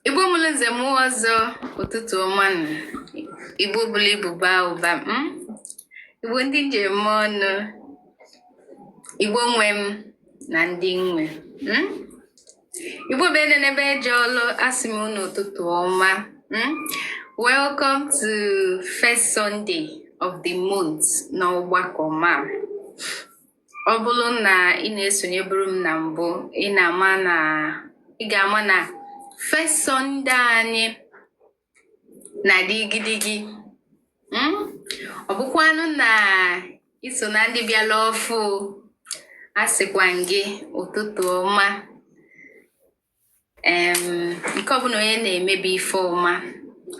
Igbo mụrụ nze mụọ ọzọ ụtụtụ ọma nụ. Igbo buru ibu baa ụba mm? Igbo ndị m ji eme ọnụ Igbo nwe m na ndị nwe mm? Igbo bụ ede n'ebe eje ọlụ asị m unu ụtụtụ ọma mm? Welcome to first Sunday of the month na ọgbakọ ma ọ bụrụ na ị na-esonyeburu m na mbụ ị na-ama na ị ga-ama na first Sunday anyị na-adị igidigi hmm? ọ bụkwanụ na i so na ndị bịala ọfụ asịkwa m gị ụtụtụ ọma nke ọbụna onye na-eme bụ ife ọma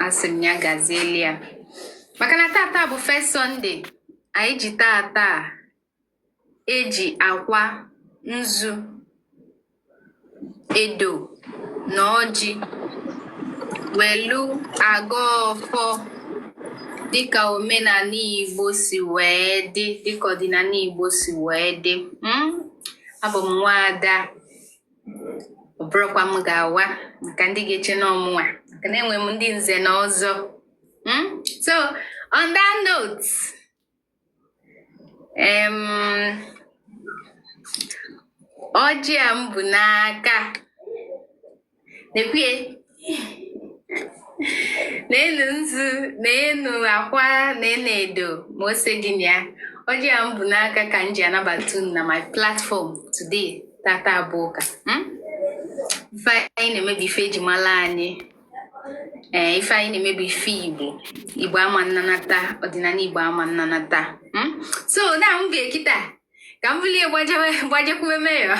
asị m ya gazieli ya maka na tata bụ first Sunday anyị ji tata eji akwa nzu edo na ọjị welu agọ ọfọ dịka omenala Igbo si wee dị dịka ọdịnala Igbo si wee dị hmm? abụ m nwaada ọ bụrọkwa m ga-awa maka ndị ga-eche na ọ mụnwa maka na enwe m ndị nze na ọzọ hmm? so on that note um, ọjị a m bu n'aka nekwe ya na enu nzu na enu akwa na enu edo ma ose dị na ya ọjị a m bu n'aka ka m ji anabata unu na my platform today tata bụ ụka hmm? ife anyị na-eme bụ ife eji mala anyị ee eh, ife anyị na-eme bụ ife igbo igbo ama nnanata ọdịnala igbo ama nnanata hmm? so na mgbe kita ka m bulie gbajekwuwe Mayor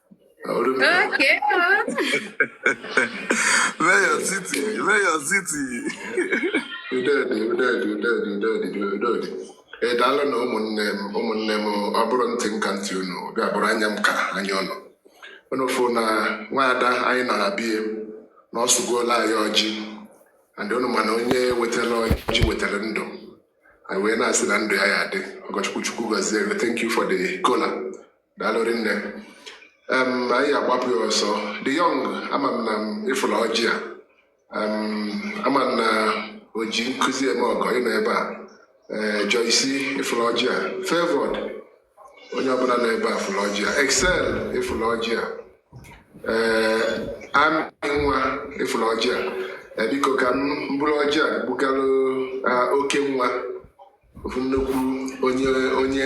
Okay. Mayor City, Mayor City. Udo dị, udo dị, udo dị, udo dị, udo dị. Ee daalụ nụ ụmụnne m ụmụnne m ọ bụrụ ntị m ka ntị unu bịa bụrụ anya m ka anya unu unu fụ na nwaada anyị nọ na be ya na ọ sụgoolụ anyị ọjị and unu ma na onye wetara ọjị wetara ndụ anyị wee na-asị na ndụ ya ya-adị ọgọchukwu chukwu gọzie gị thank you for the kola daalụ rinne Em, anyị agbapụ ya ọsọ the young ama m na m ị fụlụ ọjị a Em, ama m na o ji nkụzi eme ọgọ ị nọ ebe a ee Joyce ị fụlụ ọjị a favored onye ọbụna nọ ebe a fụlụ ọjị a Excel ị fụlụ ọjị a ee Amy nwa ị fụlụ ọjị a Ee, biko ka m buru ọjị a bugalụ ah, oke nwa ofu nnukwu onye onye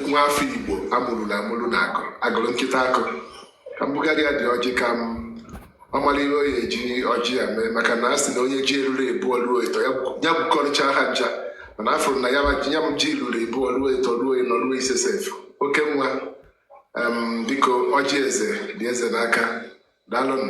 nwa afọ igbo amụrụ na amụrụ na akụ agụrụ nkịta akụ ka m bugarị ya dị ọjị ka mụ mara ihe ọ ya-eji ọjị a mee maka na a sị na onye ji eruru ịbụọ ruo ịtọ ya gwukọrịcha ha ncha mana afụrụ na ya m ji ruru ịbụọ ruo ịtọ ruo ịnọ ruo ise sef oke nwa biko ọjị eze dị eze n'aka daalụnụ